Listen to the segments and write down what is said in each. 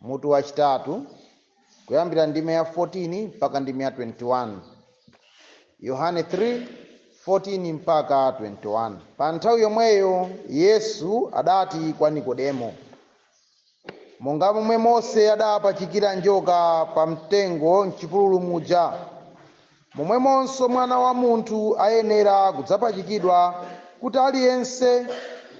Mutu wachitatu kuyambira ndime ya 14 mpaka ndime ya 21. Yohane 3:14 mpaka 21. Pa nthawi yomweyo Yesu adati kwa Nikodemo, monga momwe Mose adapachikira njoka pa mtengo m'chipululu muja, Momwemonso Mwana wa munthu ayenera kudzapachikidwa, kuti aliyense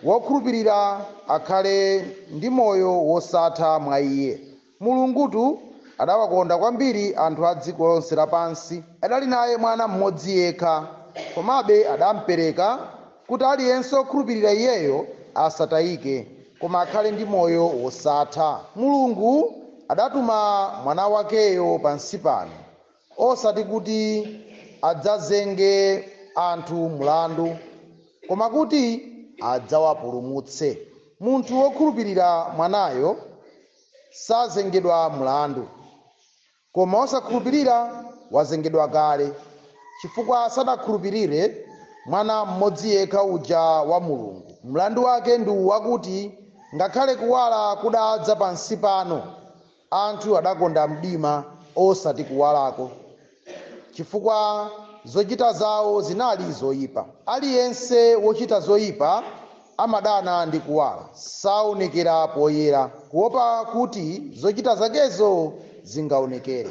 wokhulupirira akhale ndi moyo wosatha mwa Iye. Mulungutu adawakonda kwambiri anthu a dziko lonse lapansi, adali naye Mwana m'modzi yekha, komabe adampereka, kuti aliyense wokhulupirira Iyeyo asatayike, koma akhale ndi moyo wosatha. Mulungu adatuma Mwana wakeyo pansi pano. osati kuti adzazenge anthu mlandu, koma kuti adzawapulumutse. Munthu wokhulupirira Mwanayo sazengedwa mlandu. Koma wosakhulupirira wazengedwa kale, chifukwa sanakhulupirire Mwana mmodzi yekha uja wa Mulungu. Mlandu wake ndi uwu wakuti, ngakhale kuwala kudadza pansi pano, Anthu adakonda mdima osati kuwalako, chifukwa zochita zao zinali zoipa. Aliyense wochita zoipa amadana ndi kuwala, saonekera poyera, kuwopa kuti zochita zakezo zingaonekere.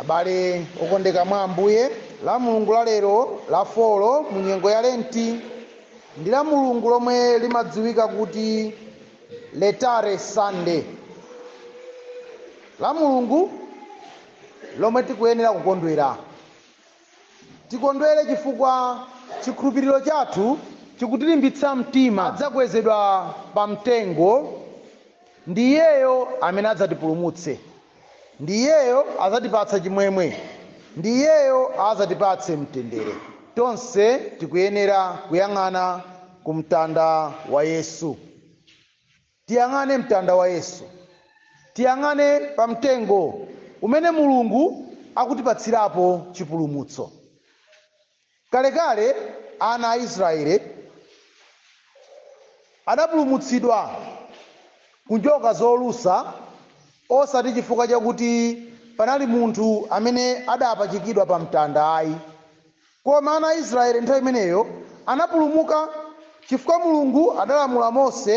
Abale okondeka mwa Ambuye, la Mulungu la lero la folo mu nyengo ya Lenti ndi la Mulungu lomwe limadziwika kuti Letare Sunday, la Mulungu lomwe tikuyenera kukondwera. Tikondwere chifukwa chikhulupiriro chathu chikutilimbitsa mtima adzakwezedwa pa mtengo ndi Iyeyo amene adzatipulumutse. ndi iyeyo adzatipatsa chimwemwe ndi iyeyo adzatipatse mtendere tonse tikuyenera kuyang'ana ku mtanda wa yesu tiyang'ane mtanda wa yesu tiyang'ane pa mtengo umene mulungu akutipatsirapo chipulumutso Kalekale ana a Israele adapulumutsidwa ku njoka zolusa osati chifukwa chakuti panali munthu amene adapachikidwa pa mtanda ayi, koma ana a Israele nthawi imeneyo anapulumuka chifukwa Mulungu adalamula Mose.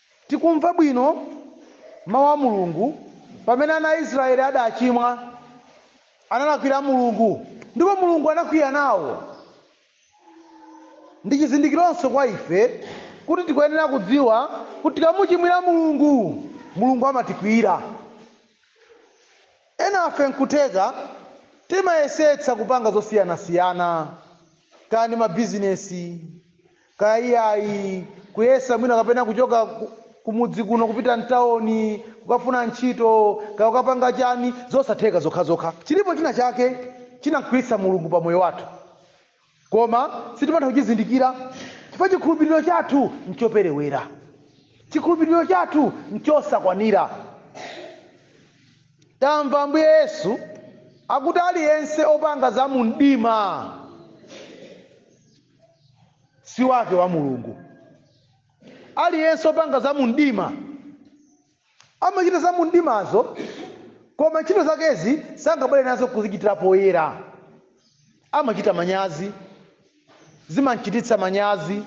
Tikumva bwino mau a Mulungu pamene ana a Israyeli adachimwa, analakwira Mulungu, ndipo Mulungu anakwiya nawo. Ndi chizindikironso kwa ife kuti tikuyenera kudziwa kuti tikamuchimwira Mulungu, Mulungu amatikwiyira. Enafe nkutheka timayesetsa kupanga zosiyanasiyana, kaya ndi mabizinesi, kaya iyayi kuyesa mwina kapena kuchoka kumudzi kuno kupita mtawoni kukafuna ntchito kaya ukapanga chani zosatheka zokhazokha chilipo china chake chinamkwiyitsa mulungu pa moyo wathu koma sitimatha kuchizindikira chifukwa chikhulupiriro chathu nchoperewera chikhulupiriro chathu nchosakwanira tamva ambuye yesu akuti aliyense opanga za mumdima si wake wa mulungu aliyense opanga za mumdima amachita za mumdimazo koma ntchito zakezi sangabwere nazo kuzichitira poyera amachita manyazi zimamchititsa manyazi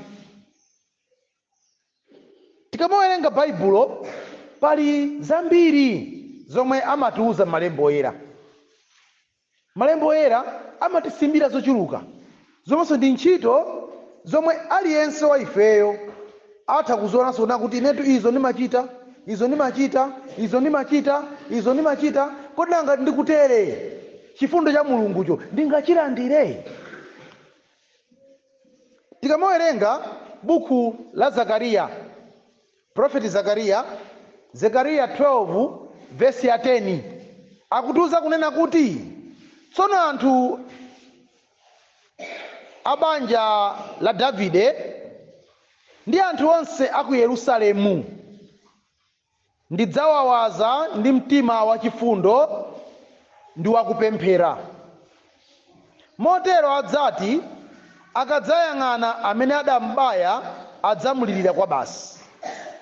Tikamawerenga Baibulo, pali zambiri zomwe amatiuza Malembo Oyera. Malembo Oyera amatisimbira zochuluka zomwenso ndi ntchito zomwe aliyense wa ifeyo atha kuzionanso kunena kuti inetu izo ndimachita, izo ndimachita, izo ndimachita, izo ndimachita, kodi nanga ngati ndikutere, chifundo cha Mulungucho ndingachilandire? tikamawerenga buku la zakariya prophet zakariya zakariya 12 vesi ya 10 akutiuza kunena kuti tsono anthu a banja la davide ndi anthu onse a ku yerusalemu Ndidzawawaza ndi mtima wachifundo ndi wakupemphera. Motero adzati akadzayang'ana amene adam'baya adzamulirira kwabasi,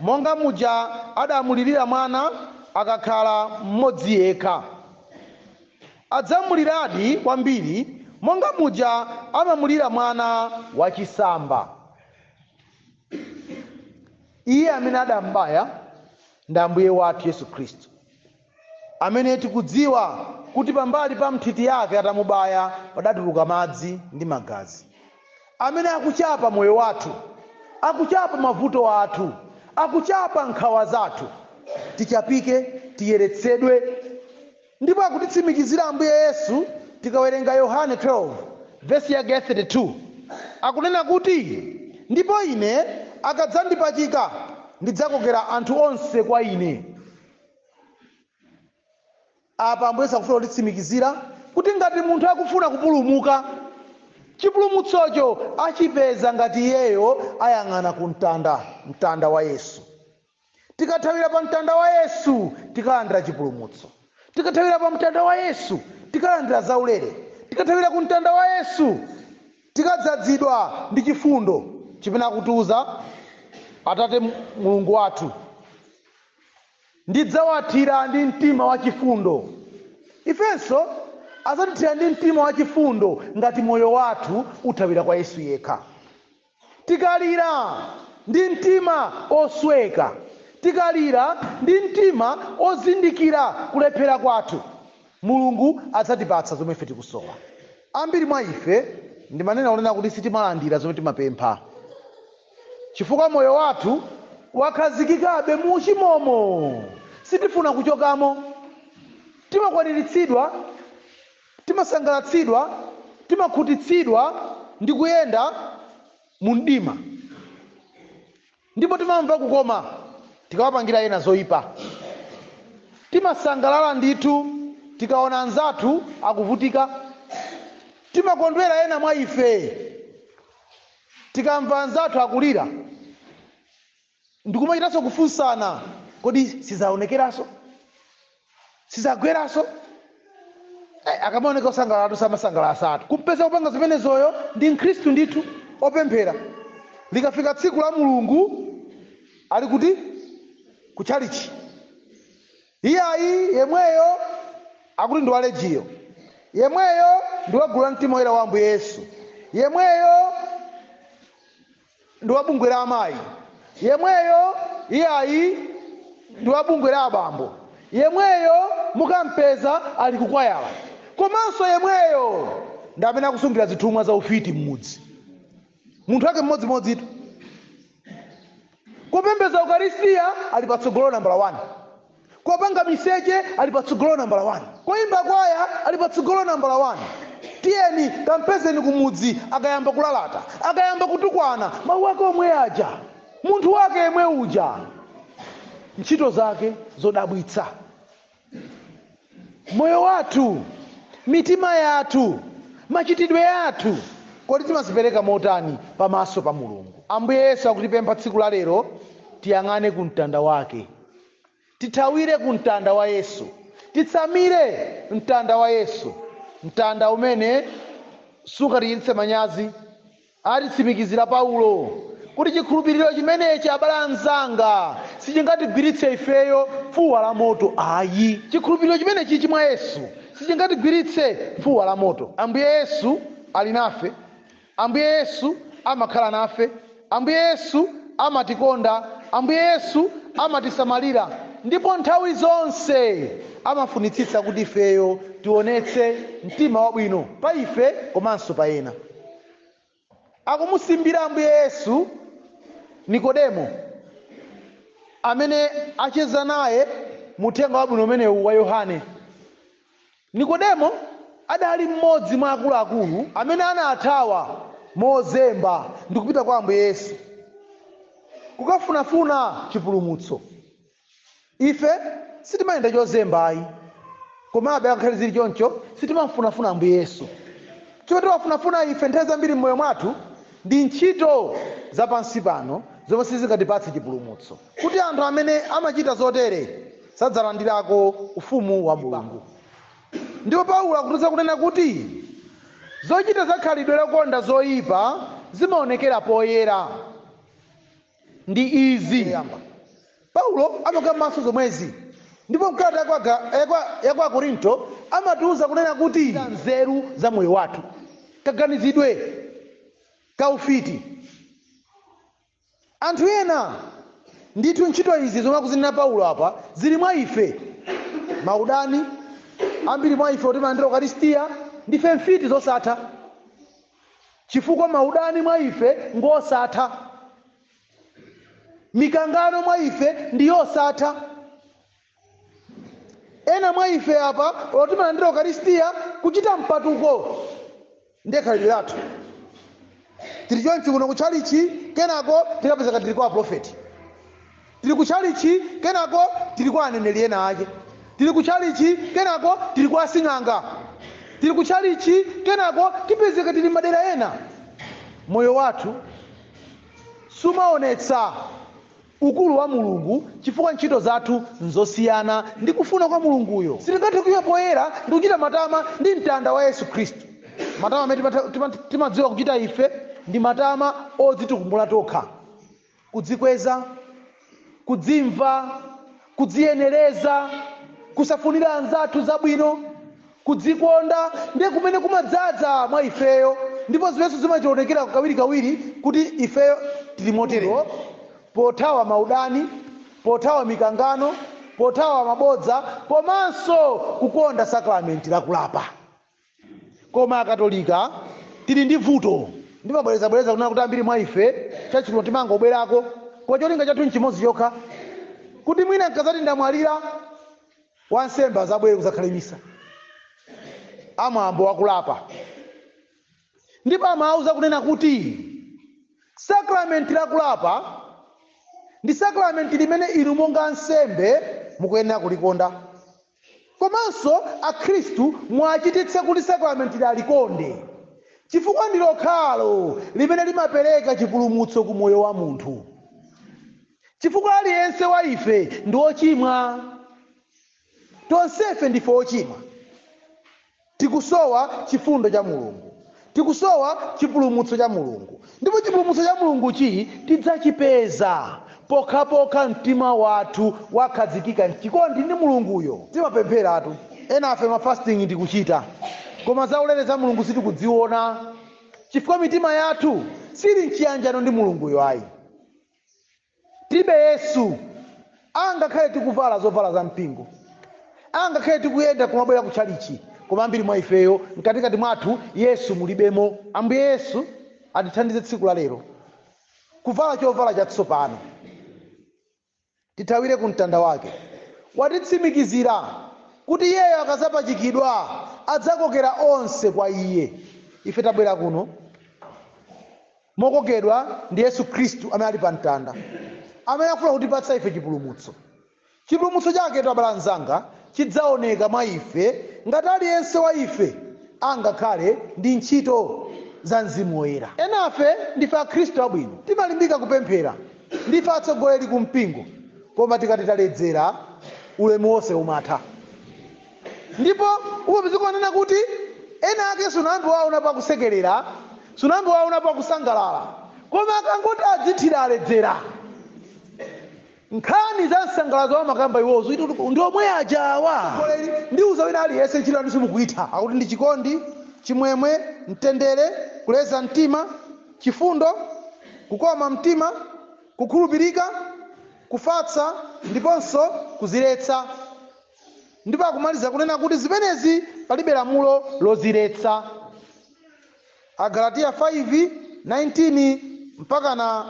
monga muja adamulirira mwana akakhala mmodzi yekha. Adzamuliradi kwambiri monga muja amamulira mwana wachisamba. iye amene adambaya ndi ambuye wathu yesu khristu amene tikudziwa kuti pambali pa nthiti yake atamubaya padatuluka madzi ndi magazi amene akuchapa moyo wathu akuchapa mavuto athu akuchapa nkhawa zathu tichapike tiyeretsedwe Ndipo akutitsimikizira Ambuye Yesu tikawerenga Yohane 12 vesi yake ya 32 akunena kuti ndipo ine akadzandipachika ndidzakokera anthu onse kwa ine. Apa Ambuye Yesu akufuna kutitsimikizira kuti ngati munthu akufuna kupulumuka, chipulumutsocho achipeza ngati iyeyo ayang'ana ku mtanda, mtanda wa Yesu. tikathawira pa mtanda wa yesu tikalandira chipulumutso tikathawira pa mtanda wa yesu tikalandira zaulere tikathawira ku mtanda wa yesu tikadzadzidwa ndi chifundo chimene akutiuza atate mulungu wathu ndidzawathira ndi mtima wachifundo ifenso adzatithira ndi mtima wachifundo ngati moyo wathu uthawira kwa yesu yekha Tikalira ndi mtima osweka, tikalira ndi mtima ozindikira kulephera kwathu, Mulungu adzatipatsa zomwe ife tikusowa. Ambiri mwa ife ndimanena kunena kuti sitimalandira zomwe timapempha chifukwa moyo wathu wakhazikikabe mu uchimomo. Sitifuna kuchokamo. Timakwaniritsidwa. Timasangalatsidwa, timakhutitsidwa ndi kuyenda mu mdima, ndipo timamva kukoma tikawapangira ena zoipa. Timasangalala ndithu tikaona anzathu akuvutika. Timakondwera ena mwa ife tikamva anzathu akulira. ndikumachitanso kufunsana kodi sizaonekeranso sizagweranso akamaoneka osangalalatu samasangalalatu kumpeza kupanga zimenezoyo ndi mkhristu ndithu opemphera likafika tsiku la mulungu ali kuti kutchalichi iyayi yemweyo akuti ndi walejiyo yemweyo ndi wagulu la mtima woyera wa ambuye yesu yemweyo ndi wa bungwe la amayi yemweyo iyayi ndi wa bungwe la abambo yemweyo mukampeza ali kukwayala komanso yemweyo ndi amene akusungira zithumwa za ufiti m'mudzi munthu wake mmodzimodzitu kupembedza ukaristiya ali patsogolo nambala 1 Kupanga miseche ali patsogolo nambala wani. Kuimba kwaya ali patsogolo nambala wani. Tiyeni kampezeni kumudzi akayamba kulalata, akayamba kutukwana, mawu ake omwe aja, munthu wake yemwe uja, ntchito zake zodabwitsa, moyo wathu, mitima yathu, machitidwe athu, kodi timadzipereka motani pamaso pa Mulungu? Ambuye Yesu akutipempha tsiku la lero tiyang'ane ku mtanda wake. Tithawire ku mtanda wa Yesu. Titsamire mtanda wa Yesu, mtanda umene sungatichititse manyazi, atitsimikizira Paulo, kuti chikhulupiriro chimenechi, abale anzanga, sichingatigwiritse ifeyo fuwa la moto ayi. Chikhulupiriro chimenechichi mwa Yesu sichingatigwiritse fuwa la moto. Ambuye Yesu ali nafe. Ambuye Yesu amakhala nafe. Ambuye Yesu amatikonda. Ambuye Yesu amatisamalira. Ndipo nthawi zonse amafunitsitsa kuti ifeyo tionetse mtima wabwino pa ife komanso pa ena. Akumusimbira Ambuye Yesu Nikodemo, amene acheza naye mu uthenga wabwino umenewu wa Yohane. Nikodemo adali m'modzi mwa akuluakulu amene anathawa mozemba ndikupita kwa Ambuye Yesu kukafunafuna chipulumutso. Ife sitimayenda chozemba ayi, komabe ngakhale zili choncho sitimamfunafuna Ambuye Yesu. Chomwe timafunafuna ife nthawi zambiri m'moyo mwathu ndi ntchito za pansi pano zomwe sizingatipatse chipulumutso. kuti anthu amene amachita zotere sadzalandirako ufumu wa mulungu ndipo paulo akutiuza kunena kuti zochita za khalidwe lokonda zoyipa zimaonekera poyera ndi izi paulo amakambanso zomwezi ndipo mkalata yakwa akorinto amatiuza kunena kuti nzeru za moyo wathu kaganizidwe kaufiti Anthu ena, ndithu ntchito izi zomwe akuzinena Paulo apa zili mwa ife, maudani, ambiri mwa ife oti timalandira ukaristiya ndife mfiti zosatha, chifukwa maudani mwa ife ngosatha, mikangano mwa ife ndi yosatha. ena mwa ife apa oti timalandira ukaristiya kuchita mpatuko ndiye khalidwe lathu tili chonchi kuno kutchalichi kenako tikapezeka tili kwa aprofeti tili kutchalichi kenako tili kwa aneneri ena ake tili kutchalichi kenako tili kwa asing'anga tili kutchalichi kenako tipezeka tili m'madera ena moyo wathu sumaonetsa ukulu wa Mulungu chifukwa ntchito zathu nzosiyana ndi kufuna kwa Mulunguyo. Sitingathe kuima poyera ndi kuchita matama ndi mtanda wa Yesu Khristu. Matama amene timadziwa kuchita ife ndi matama odzitukumula tokha, kudzikweza, kudzimva, kudziyenereza kusafunira anzathu zabwino kudzikonda ndiye kumene kumadzadza mwa ifeyo ndipo zimenenso zimachionekera kawirikawiri kuti ifeyo tili moterewo pothawa maudani pothawa mikangano pothawa mabodza komanso kukonda sakramenti lakulapa Koma Akatolika tili ndi vuto. Ndimabwerezabwereza kunena kuti ambiri mwa ife tchalitchi kuno timangobwerako koma cholinga chathu n'chimodzi chokha, kuti mwina n'kadzati ndamwalira, wansembe adzabwere kudzakhale Misa ya mwambo wa kulapa ndipo ndimawauza kunena kuti sakramenti la kulapa ndi sakramenti limene inu monga ansembe mukuyenera kulikonda. Komanso akhristu muwachititse kuti sakramentili alikonde, chifukwa ndi lokhalo limene limapereka chipulumutso ku moyo wa munthu. Chifukwa aliyense wa ife ndi ochimwa. Tonsefe ndife ochimwa. Tikusowa chifundo cha Mulungu. Tikusowa chipulumutso cha Mulungu. Ndipo chipulumutso cha Mulunguchi tidzachipeza pokhapokha mtima wathu wakhazikika m'chikondi ndi Mulunguyo. Timapempheratu. Enafe ma fasting tikuchita. Koma zaulere za Mulungu sitikudziona. Chifukwa mitima yathu sili m'chiyanjano ndi Mulunguyo ayi. Tilibe Yesu, angakhale tikuvala zovala za mpingo, angakhale tikuyenda kumabwera ku tchalitchi, koma ambiri mwa ifeyo, mkatikati mwathu, Yesu mulibemo. Ambuye Yesu atithandize tsiku la lero kuvala chovala chatsopano. Tithawire ku mtanda wake. Watitsimikizira kuti Iyeyo akazapachikidwa adzakokera onse kwa Iye. Ife tabwera kuno mokokedwa ndi Yesu Khristu amene ali pa mtanda, amene afuna kutipatsa ife chipulumutso. Chipulumutso chake abale anzanga chidzaoneka mwa ife ngati aliyense wa ife angakhale ndi ntchito za Mzimu Woyera. Enafe ndife Akhristu abwino, timalimbika kupemphera, ndife atsogoleri ku mpingo, koma tikati taledzera, ulemu wonse umatha. ndipo umapezeka kunena kuti ena ake sunayambe wawaonapo akusekerera sunayambe wawaonapo akusangalala koma akangoti adzithira aledzera nkhani za nsangalatso amakamba iwo, zoti kuti ndi omwe aja awa ndiuza wina aliyense ntchito yanu simukuitha akuti ndi chikondi chimwemwe mtendere kuleza mtima chifundo kukoma mtima kukhulupirika kufatsa ndiponso kuziletsa Ndipo akumaliza kunena kuti zimenezi palibe lamulo loziletsa. Agalatiya 5, 19 mpakana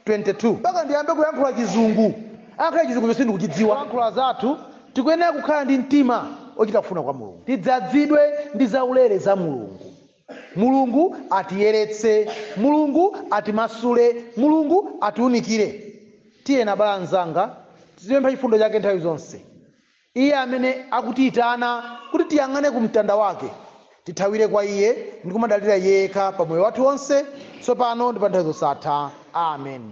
22. Mpaka ndiyambe kuyankhula chizungu? Ngakhale chizungucho sindikuchidziwa. Zoyankhula zathu, tikuyenera kukhala ndi mtima ochita kufuna kwa Mulungu. Tidzadzidwe ndi zaulere za Mulungu. Mulungu atiyeretse. Mulungu atimasule. Mulungu atiunikire. Tiyeni, abale anzanga, tizipempha chifundo chake nthawi zonse. Iye amene akutiitana kuti tiyang'ane ku mtanda wake, tithawire kwa iye ndi kumadalira iye yekha pa moyo wathu wonse, tsopano ndi pa nthawi zosatha. Amen.